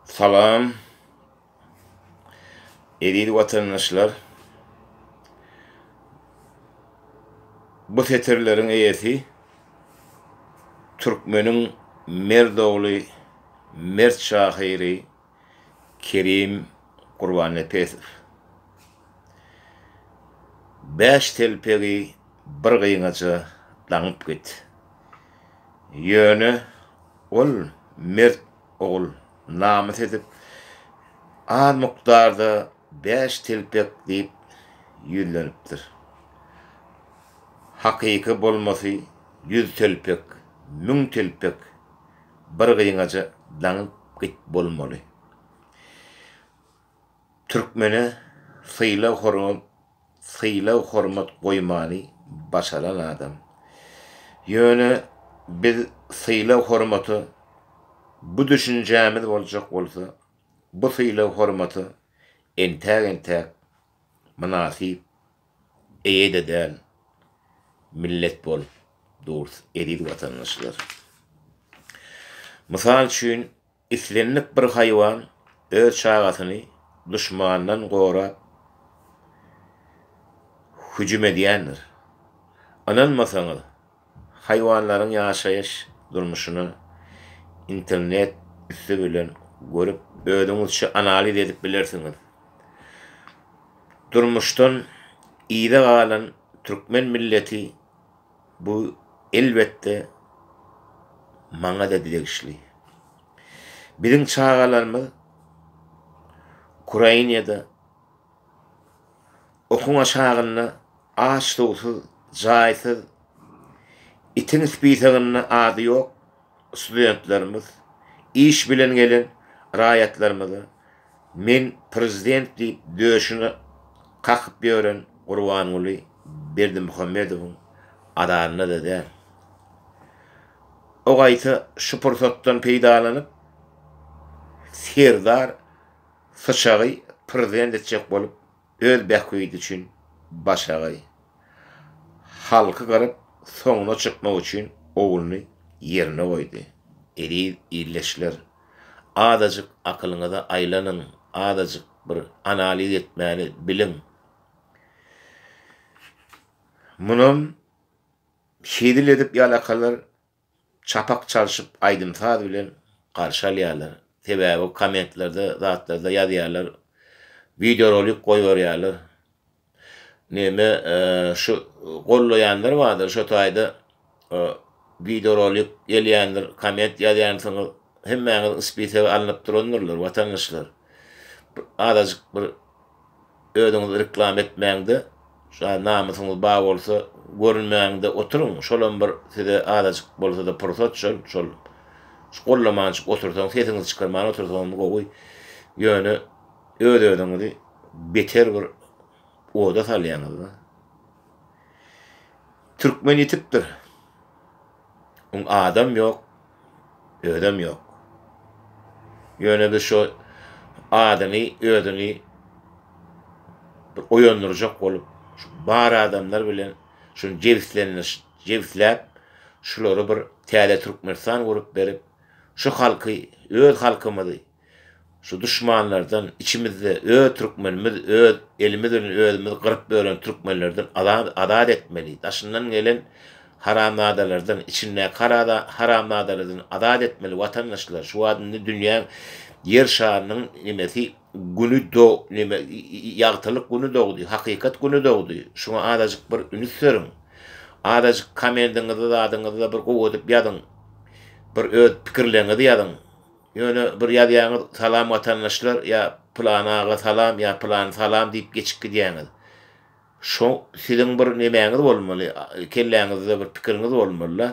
Salam. Eziz watandaşlar. Bu setirleriň eýesi türkmeniň mert ogly, mert şahyry Kerim Gurbannepesow. Bäş telpegi bir gyňaja daňyp git. Ýöne Ol mert ogul namys edip, az mukdarda bäş telpek diýip ýüzlenipdir. Hakyky bolmasy ýüz telpek, müň telpek bir gyňaja daňyp git bolmaly. Türkmene sylag-hormat sylag-hormat goýmany başaran adam. Ýöne biz sylag-hormata bu düşünjämiz boljak bolsa, bu sylag-hormata entäk-entäk mynasyp eýe-de däl millet bolup durus, eziz watandaşlar. Mysal üçin, Islendik bir haýwan öz çagasyny duşmandan gorap hüjüm edýändir. Ynanmasaňyz, haýwanlaryň ýaşaýyş durmuşyna internet üsti bilen görüp, özüňizçe analiz edip bilersiňiz. Durmuşdan yza galan türkmen milleti Bu, elbetde, maňa-da degişli. Biziň çagalarymyz Ukrainada okuň aşagynda aç-suwsuz, jaýsyz, itiň spisagynda ady ýok studentlerimiz, iş bilen gelen raýatlarymyza Men prezident diýip döşüne kakyp ýören Gurbanguly Berdimuhamedowyň azarynda-da däl. O gaýta şu pursatdan peýdalanyp, Serdar Syçagy prezident etjek bolup Öz bähbidi üçin başagaý. Halky gyryp, soňuna çykmak üçin ogluny ýerine goýdy. Eziz ildeşler, azajyk akylyňyzy aýlanyň, azajyk bir analiz etmäni biliň. Munam hezil edip ýalakalar çapak çalşyp aýdym-saz bilen garşy alýarlar. Sebäbi kommentlerde zatlarda ýazýarlar, wideorolik goýberýärler. Neme şu gollaýanlar bardyr şo taýda wideorolik gelýändir, komment ýazýansyňyz, hemmäňiz spisege alnyp durandyrlar watandaşlar. Azajyk bir Özüňizi reklama etmäňde, şa namysyňyz bar bolsa görünmäňde oturyň, şolam bir size azajyk bolsada pursat şol, şol gollamançyk otursaň, sesiňizi çykarman otursaňyzmy gowy, ýöne öz özüňizi beter bir oda salýaňyzda. Türkmen ýitipdir. Oň adam ýok, özem ýok. Ýöne-de şo adyňy, özüňi bir oýandyrjak bolup, şu bar adamlar bilen şuny jebislendir, jebisläp, şulary bir täze Türkmenistan gurup berip, şu halky, öz halkymyzy, Şu duşmanlardan içimizde öz türkmenimiz öz elimiz bilen özümizi gyryp bölen türkmenlerden azat azat etmeli daşyndan gelen haramzadalardan içindäki harada haramzadalardan azat etmeli watandaşlar şu wagt indi dünýäň ýer şarynyň nimesi güni do nime ýagtylyk güni dogdy hakykat güni dogdy şuňa azajyk bir ünüs beriň azajyk komendiňizi zadyňyzy bir gowy edip ýazyň bir öz pikirleriňizi ýazyň Ýöne bir ýazýaňyz Salam watandaşlar ýa Pylan aga salam ýa Pylan salam diýip geçip gidýäňiz. Şo siziň bir nemäňiz bolmaly, kelläňizde bir pikiriňiz bolmaly-da.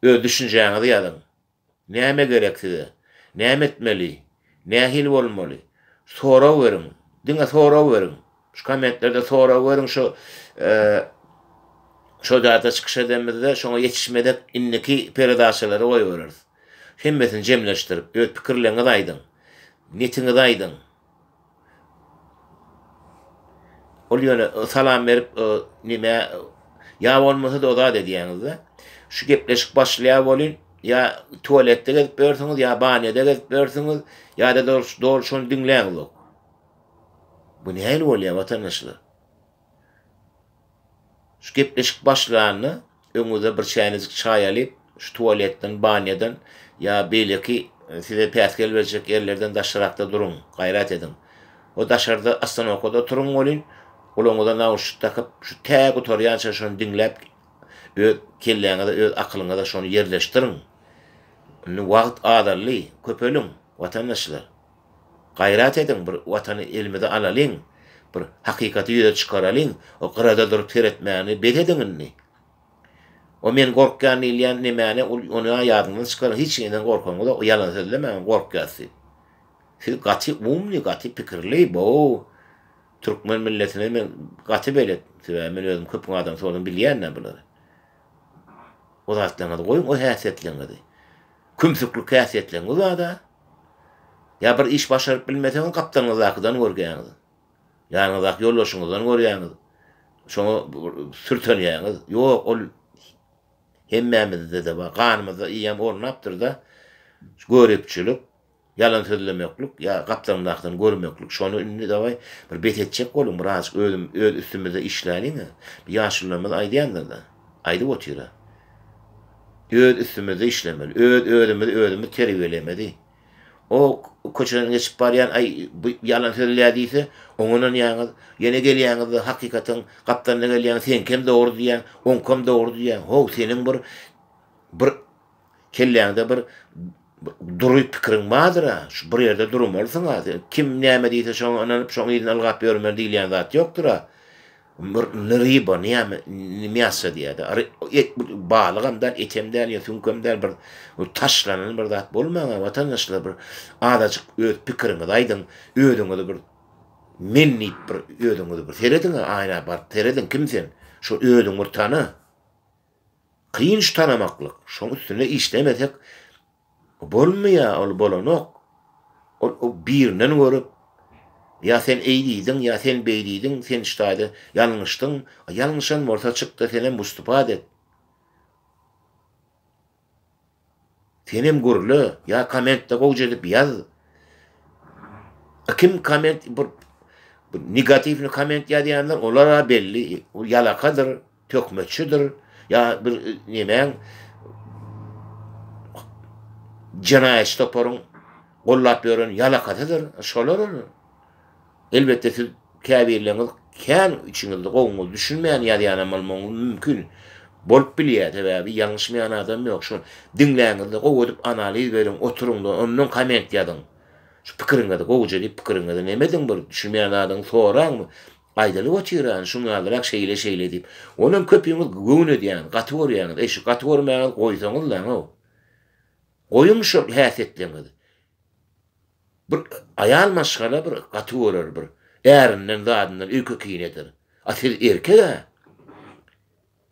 Öz düşünjäňizi ýazyň. Näme gerek size? Näme etmeli? Nähili bolmaly? Sorag beriň. Diňe sorag beriň. Şu kommentlerde sorag beriň şu şo zada çykyş edemizde şoňa ýetişmezek indiki peredaçalary goýbereris. Hemmesini jemleşdirip öz pikirleriňizi aýdyň. Netiňizi aýdyň. Ol ýöne e, salam berip, e, nime ýa bolmasa da ozat edýäňizde. Şu gepleşik başlaýar bolýan, ýa tualetde gezip ýörsiňiz, ýa banýada gezip ýörsiňiz, ýa-da dol şony diňläňizok. Bu nähili bolýar watandaşlar? Şu gepleşik başlanda öňüňize bir çäýnejik çaý alyp, şu tualetden, banýadan ýa beýleki size päsgel berjek ýerlerden daşrakda duruň, gaýrat ediň. Ho, daşarda ostanowkada oturyň welin, gulagyňyza nauşnik dakyp, şu tä gutarýança şony diňläp, öz kelläňize, öz akylyňyza şony ýerleşdiriň. Indi wagt azaldy, köpeliň, watandaşlar! Gaýrat ediň, bir Watany elimize alalyň, bir hakykaty ýüze çykaralyň, o gyrada durup seretmäni bes ediň indi. O men gorkýan diýilýän nemäni ol ony-a ýadyňyzdan çykaryň, hiç neden gorkaňyz-a, o ýalan sözlemäň, gorkýas diýip. Siz gaty umly, gaty pikirli, bo-o türkmen milletine men gaty belet, sebäbi men özüm köpüň adamy soradan bilýän-ä bulary. O zatlaryňyzy goýuň, o häsiýetleňizi. Kümsüklik häsiýetleňiz bar-da, Ýa bir iş başaryp bilmeseňiz gapdalyňyzdakydan görgäňiz. Ýanyňyzdaky ýoldaşyňyzdan görýäňiz. Şoňa sürtenýäňiz. Ýok, ol hemmämizde-de bar. Ganymyzda eýýäm ornapdyr-da. Şu göripçilik, ýalan sözlemeklik, ýa gapdalyňdakydan görmeklik. Şony indi dawaý bir bes etjek boluň. Birazajyk özüm öz üstümizde işläliň-ä. Ýaşulularymyz aýdýandyr-da. Aýdyp otyr-a. Öz üstümizde işlemeli. Öz özümizi özümiz terbiýelemeli. O köçeden geçip barýan, Aý, bu ýalan sözleýär diýse, oňa ynanýaňyz. Ýene gelýäňiz-de, hakykatyň gapdalynda gelýäňiz, Seňkem dogry diýýäň, oňkam dogry diýýäň. How, seniň bir bir Kelläňde bir dury pikiriň bardyr-a, şu bir ýerde durmalysyň-a, sen kim näme diýse şoňa ynanyp, şoň yzyna ylgap ýörmeli diýilýän zat ýokdur-a. Bir ryba, näme, miassa diýýär-de, balygam däl, etem däl, ýa süňkem däl, bir taşlanan bir zat bolmaň-a, watandaşlar, bir azajyk öz pikiriňizi aýdyň, özüňizi bir men diýip bir özüňizi bir serediň-a, aýna baryp serediň, kim sen? Şu özüňi bir tana. Kynç tanamaklyk, şoň üstünde işlemesek bolmaýa ol bolanok, ol birinden görüp, ýa sen eý diýdiň, ýa sen beý diýdiň, sen ştaýda ýalňyşdyň, ýalňyşan bolsa çykda senem wystupad et. Senem gürle ýa kommentde gowja edip ýaz. Kim komment bir negatiwny komment ýazýanlar olara belli ol ýalakadyr, töhmetçidir ýa bir nemäň jenaýatçy toparyň gollap ýören ýalakasydyr şolar ol. Elbetde siz käbirleriňiz kän içiňizde gowyňyz düşünmän ýazýanam bolmagyňyz mümkin. Bolup bilýär, sebäbi ýalňyşmaýan adam ýok. Şol diňläňizde gowy edip analiz beriň, oturyňda ondan komment ýazyň. Şu pikiriňizi gowuja diýip pikiriňizi neme ediň bir düşünmeýän zadyňy soraň bir. Aýdylyp otyrany şuň ýalyrak şeýle şeýle diýip. Onam köpüňiz göwün edýäňiz, gaty görýäňiz. Eý şu gaty görmäňizi goýsaňyzlaňow. Goýuň şol häsiýetleriňizi. Bir aýal maşgala bir gaty görer bir ärinden zadyndan öýkekin eder a siz erkek a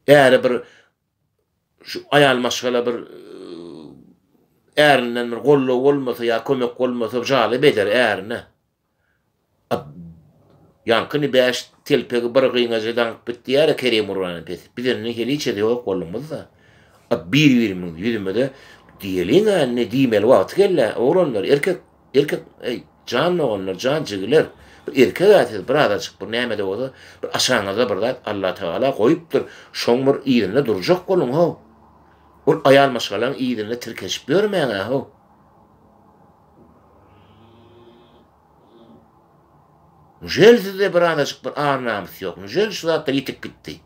äri bir şu aýal maşgala bir ärinden bir gollow bolmasa ýa kömek bolmasa jalyp eder ärine Ad. Ýaňkyny bäş telpegi bir gyňaja daňyp git diýýär-ä Kerim uranyň pesi. Biz indi heniçe-de ýok bolduňyz-da. Ad. Bir-birimiziň ýüzümize diýeliň-ä indi, diýmeli wagty geldi-ä. Oglanlar, erkek, erkek, eý, jan doganlar, jan jigiler, bir erkek-ä siz, birazajyk bir näme-de bolsa, bir aşagyňyzda bir zat Allatagala goýupdyr, şoň bir yzynda durjak boluň-how. Ol aýal maşgalaň yzynda tirkeşip ýörmäň-ä-how. Njel sizde bir anajyk bir ar namys ýok. Njel şu zatlar ýitip gitdi.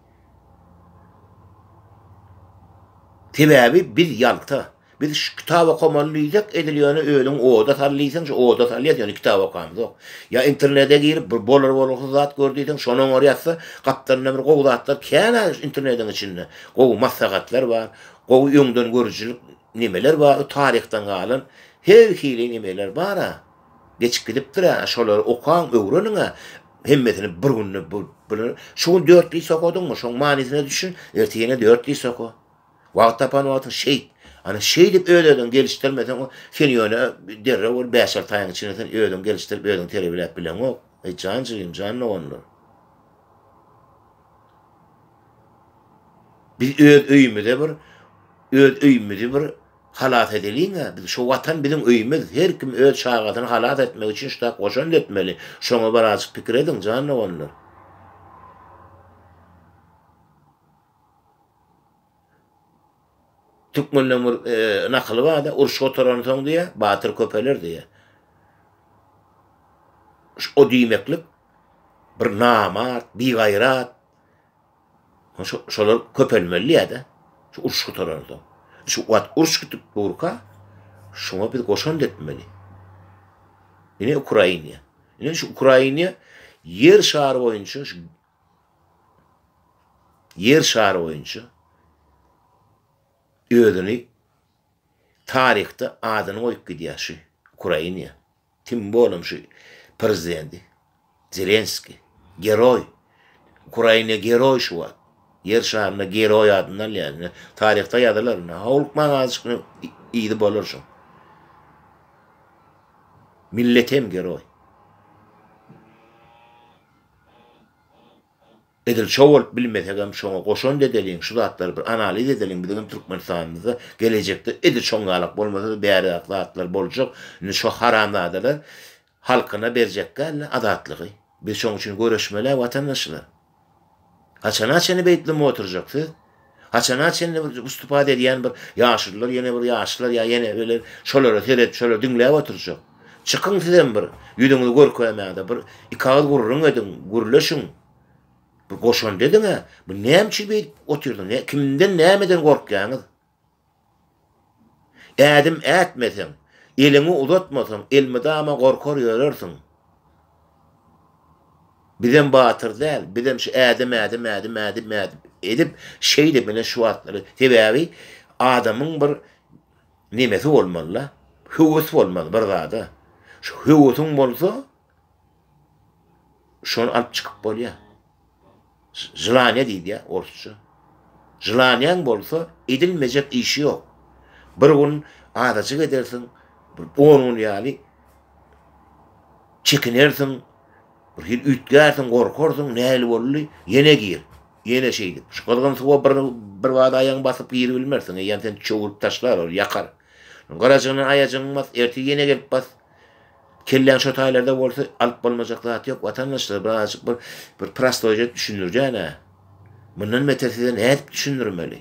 Sebäbi biz ýalta. Biz şu kitap okamaly diýsek edil ýöne özüň oda sal diýseň şu oda salýas ýöne kitap okamzok. Ýa internede girip bir bolar bolgusyz zat gör diýseň şony oňar ýatsa gapdalynda bir gowy zatlar känä internediň içinde. Gowy maslahatlar bar. Gowy öňden görüjilik nemeler bar. Taryhdan galan her hili nemeler bara. Geçip gidipdir-ä, şolary okaň, öwreniň-ä, hemmesini bir günde biler. Şu gün dört diss okadyňmy, şoň manysyna düşün, ertir ýene dört diss oka. Wagt tapan wagtyň şeýt. Ana, şeýdip öz-özüňi gelişdirmeseň, sen ýöne derrew bir bäş-alty aýyň içinde sen özüňi gelişdirip, özüňi terbiýeläp bileňok. Eý, jan jigim, jan doganlar! Biz öz öýümize bir, öz öýümizi bir Halas edeliň-ä biz, şu Watan biziň öýümiz, her kim öz çagasyny halas etmek üçin ştap goşant etmeli, şoňa birazjyk pikir ediň, jan doganlar. Türkmende bir nakyl bar-da, uruş gutaransoň diýýär, batyr köpeler diýýär. O diýmeklik, bir namart, bigaýrat, Şolar köpelmeli diýýär-de, şu uruş gutaransoň. Şu wagt uruş gitip durka, şoňa biz goşant etmeli. Ine Ukraina. Ine şu Ukraina ýer şary boýunça ýer şary boýunça özüni taryhda adyny goýup gidýär şu Ukraina. Kim olam şu prezidenti zelenski geroý ukraina geroý şu wagt ýer şarynda geroý adyny alýar indi taryhda ýazylar indi howlukmaň azjyk yzy bolar şuň millet hem geroý. Edil şo bolup bilmesegem şoňa goşant edeliň şu zatlary bir analiz edeliň biziňem Türkmenistanymyzda gelejekde edil şoň ýalak bolmasada bärrak zatlar boljak indi şo haramzadalar halkyna berjek dälde azatlygy biz şoň üçin göreşmelä watandaşlar haçana çeni beýtleme oturjak siz Haçana çenli bir ustupat edýän bir ýaşulylar ýene bir ýaşlar ýa ýene birler şolara seredip şolar diňläp oturjak. Çykyň sizem bir ýüzüňizi görkezmäge bir iki agyz gürrüň ediň, gürleşiň. Bir goşant ediňä, bu näme üçin beýdip otyrsyň, kimden nämeden gorkýaňyz? Ädim ätmeseň, eliňi uzatmasaň, elmydama gorkar ýörersiň. Bizem batyr däl, bizem şu ädim, ädim, ädim, ädim, ädim edip, şeýdip ine şu wagtlary, sebäbi adamyň bir nemesi bolmaly-da, höwesi bolmaly bir zada. Şu höwesiň bolsa, Şony alyp çykyp bolýa. Želaniýa diýilýä orsça. Želaniýaň bolsa edilmejek işi ýok. Bir gün azajyk edersiň, bir on gün ýaly çekinersiň, bir hili üýtgärsiň, gorkarsyň, nähili boldy, ýene gir, ýene şeýdip. Şu gyzgyn suwa bir bir bada aýagyňy basyp giribilmersiň, eýýäm seni çöwrüp taşlar, ol ýakar. Garajygyndan aýajygyňy bas, ertir ýene gelip bas. Kelläň şo taýlarda bolsa alyp bolmajak zat ýok watandaşlar birazajyk bir bir prostoýja düşündirjänä. Mundan beter size nädip düşündirmeli?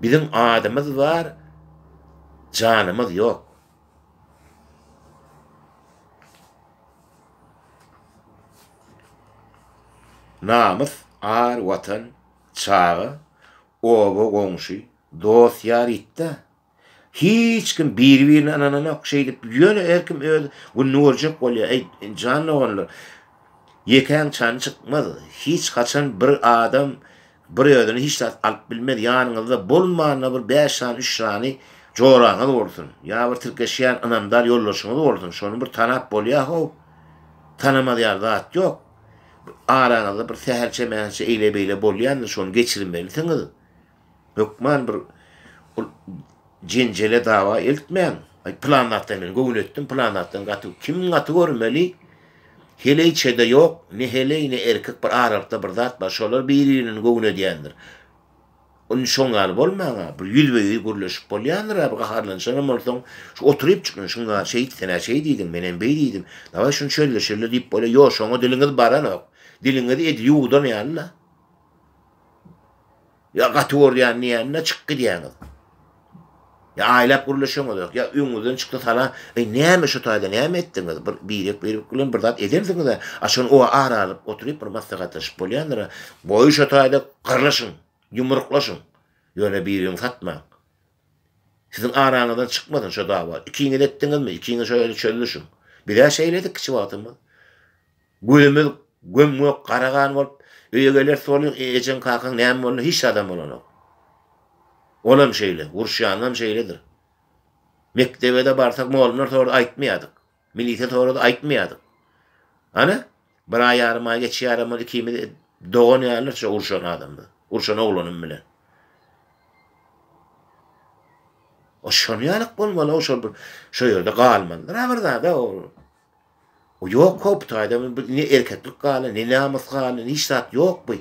Biziň adymyz bar, janymyz ýok. Namys, ar, watan, çaga, oba, goňşy, dost, ýar ýitdä. Hiç kim biri-birine ynananok şeýdip, ýöne her kim öz gününi görjek bolýar. Eý, jan doganlar, ýekäň çany çykmaz. Hiç haçan bir adam bir özüne hiç zat alyp bilmez. Ýanyňyzda bolmanda bir bäş sany, üç sany joraňyz bolsun. Ýa bir tirkeşýän ynamdar ýoldaşyňyz bolsun. Şony bir tanap bolýa-how. Tanamaz ýaly zat ýok. Araňyzda bir sähelçe-mähelçe eýle-beýle bolýandyr, şony geçirmelisiňiz. Hökman bir ol jenjele dawa eltmäň. Aý pylan zatdan men göwün etdim, pylan zatdan gaty kim gaty görmeli? Heleý çede ýok, ne heleý, ne erkek bir aralykda bir zat bar, şolar bir-birine göwün edýändir. Indi şoň ýaly bolmaň-a, bir ýüzbe-ýüz gürleşip bolýandyr-a, bir gaharlanyşanam bolsaň, şu oturypjyk men şuň ýaly şeýdi, sen-ä şeý diýdiň, menem beý diýdim, dawaý şuny çözleşeli diýip bolýar, ýoşuňa diliňiz baranok, diliňizi edil ýuwudan ýaly-la. Ýa gaty görýän diýende çykyp gidýäňiz. Ýa aýlap gürleşeňizok, ýa öňüňizden çykdy sala, Eý, näme şu taýda näme etdiňiz? Bir birek birek bilen bir zat edersiňiz-ä, açan o ara alyp oturyp bir maslahatlaşyp bolýandyr-a. Goý şu taýda gyrlyşyň, ýumruklaşyň, ýöne bir-biriňi satmaň. Siziň araňyzdan çykmasyn şo dawa. Ikiňiz etdiňizmi, ikiňiz şo ýerde çözülişiň. Biz-ä şeýledik kiçi wagtymyz. Gözümiz göm-gök, gara-gan bolup, öýe geler soly, Ejeň-kakaň näme boldy, hiç zadam bolanok. Olam şeýle, uruşýanynam şeýledir. Mekdebe-de barsak, mugallymlar sorady, aýtmaýardyk. Milisiýa sorady, aýtmaýardyk. Ana, bir aý, ýarym aý geçýärem, ol ikimiz dogan ýalydyr şo urşan adamda, urşan oglanym bilen. Şonuň ýaly-k bolmaly-ow, şol bir, şo ýerde galmalydyr-a bir zad-a ol. O ýok how bu taýda bir ne erkeklik galy ne namys galy ne hiç zat ýok bu.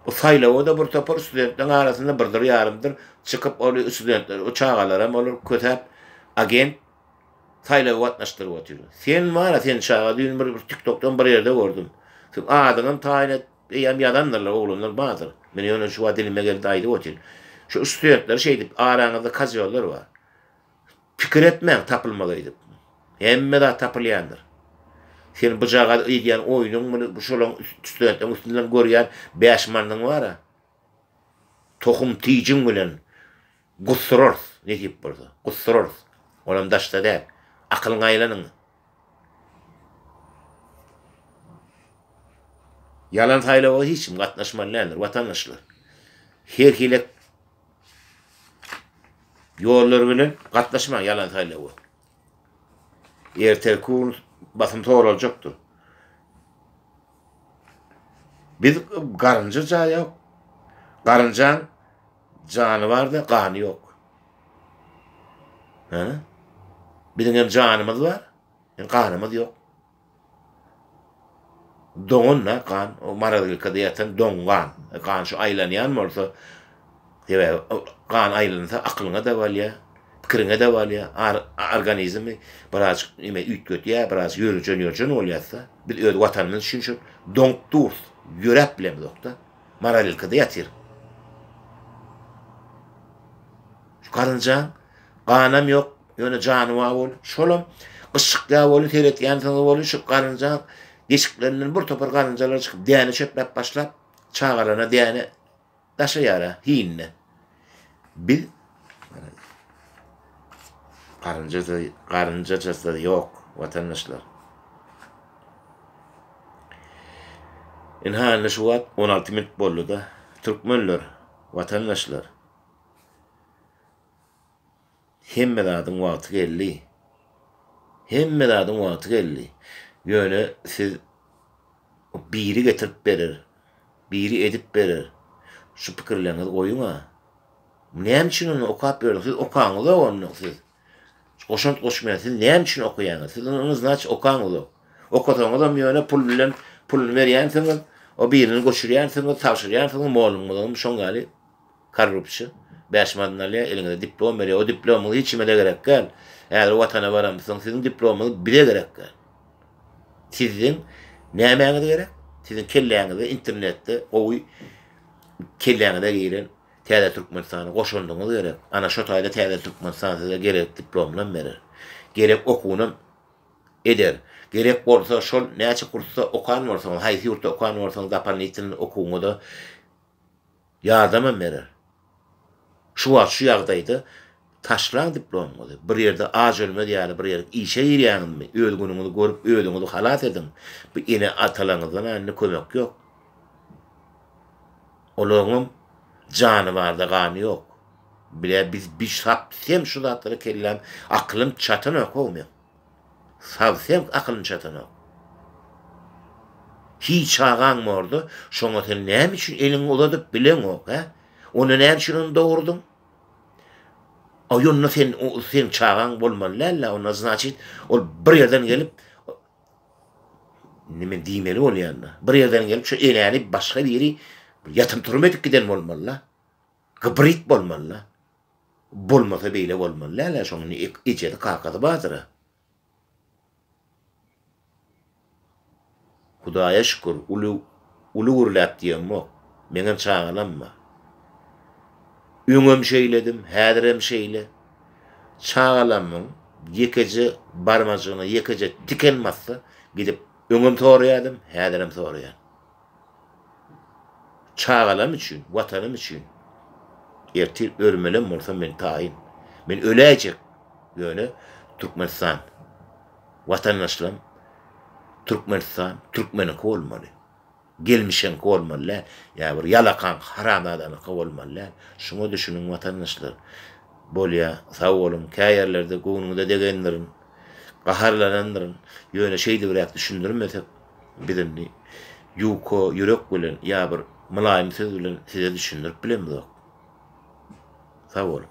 Bu saýlawa da bir topar studentleriň arasynda birdir ýarymdyr çykyp ol studentler o çagalaram olar kösäp agent saýlawa gatnaşdyryp otyr. Sen wara sen çaga düýn bir tiktokdan bir ýerde gördüm. Sen adyňam taýyn et. Eýýäm ýazandyrlar oglanlar bardyr. Men ýöne şu wagt dilime geldi aýdyp otyryn. Şu studentler şeýdip, araňyzda kazýollar bar. Pikir etmäň tapylmaz öýdüp. Hemme zat tapylýandyr. Sen bujagaz öýdýän oýnuň muny şolaň studentleriň üstünden görýän bäş manyň bar-a. Tohum tijiň bilen Gussurarys, nesip bolsa. Gussurarys. Olam daşda däl. Akylyňa aýlanyň. Ýalan saýlawa hiç kim gatnaşmaly däldir, watandaşlar. Her hili ýollar bilen gatnaşmaň ýalan saýlawa. Ertirki gün basym soraljakdyr. Biz garynja jaýa, garynjaň Jany barda gany ýok. Hä? Biziň hem janymyz bar, ýöne ganymyz ýok. Doňan-da gan, o morozilkada ýatan doň gan. Gan şu aýlanýan bolsa, sebäbi gan aýlansa akylyňa-da bolýar, pikiriňe-de bolýar, organizmi birazajyk näme üýtgedýär, biraz ýörjen-ýörjen bolýas-da. Biz öz Watanymyz üçin şol doňup durus, ýöräp bilemzok-da. Maralilkede ýatyr. Şu garynjaň ganam ýok, ýöne jany bar boldy. Şolam gyşykýa boldy, seretýänsiňiz boldy, şu garynjaň deşiklerinden bir topar garynjalar çykyp, däne çöpläp başlap, çagalaryna däne daşaýar-a, hinine. Biz garynjajasy ýok watandaşlar. Ynha indi şu wagt on alty minut boldy-da, türkmenler, watandaşlar. Hemme zadyň wagty geldi. Hemme zadyň wagty geldi. Ýöne siz biri getirip berer, biri edip berer. Şu pikirleriňizi goýuň-a. Näme üçin onda okap ýörüň? Siz okaňyzok onda siz. Goşant goşmaýan siz näme üçin okaýaňyz? Siz onda znaçe okaňyzok. Okasaňyzam ýöne pul bilen puluny berýänsiňiz, o birini göçürýänsiňiz, tabşyrýansyňyz, mollumyzam şoň ýaly. Korrupsiýa. Bäş manat alýar, eliňize diplom berýär. O diplomyňyz hiç kime-de gerek däl. Häzir Watana baramyzsoň, siziň diplomyňyz bize gerek däl. Siziň nämäňiz gerek? Siziň kelläňize internetde gowy kelläňize giren Täze Türkmenistana goşandyňyz gerek. Ana, şo taýda Täze Türkmenistan size gerek diplomynam berer. Gerek okuwynam eder. Gerek bolsa, şol näçe kursda okan bolsaňyz, haýsy ýurtda okan bolsaňyz, dapan ýetilen okuwyňyza Ýardamam berer. Şu wagt şu ýagdaýda taşlaň diplomuňyzy, bir ýerde aç ölmez ýaly bir ýere işe girýäňizmi, öz günüňizi görüp özüňizi halas ediň. Bu ene-atalaryňyzdan indi kömek ýok. Olaryňam jany barda gany ýok. Bilä biz biş hap sem şu zatlara kelläm, akylym çatanok-ow meň. Saz-sewk akylyny çatanok. Hiý, çagaň bordy, şoňa sen näme üçin eliňi uzadyp bileňok, hä? Onda näme üçin ony dogurdyň? Aý, onda sen, seň çagaň bolmaly däl-ä, onda, znaçit, ol bir ýerden gelip, indi men diýmeli bolýan-da, bir ýerden gelip, şu enäni başga biri ýatyp-turup edip giden bolmaly-da. Gybryt bolmaly-da. Bolmasa beýle bolmaly dälä şoň indi ejesi kakasy bardyra. Hudaýa şükür uly uly gürläp diýeňmok. Meňem çagalam bar. Öňem şeýledim, häzirem şeýle. Çagalamyň ýekeje barmajygyna ýekeje tiken batsa gidip öňem soraýadym, häzirem soraýan. Çagalarym üçin, Watanym üçin. Ertir ölmelem bolsam men taýyn. Men öläýjek, ýöne Türkmenistan, watandaşlarym, Türkmenistan türkmeniňki bolmaly. Gelmişiňki bolmaly däl, ýa bir ýalakaň, haramzadanyňky bolmaly däl. Şuňa düşüniň watandaşlar. Bolýa, sag boluň, kä ýerlerde göwnüňize degendirin, gaharlanandyryn, ýöne şeýdibräk düşündirmesek, Biz indi ýuka ýürek bilen ýa bir mylaýym söz bilen size düşündirip bilemizok. Sag boluň.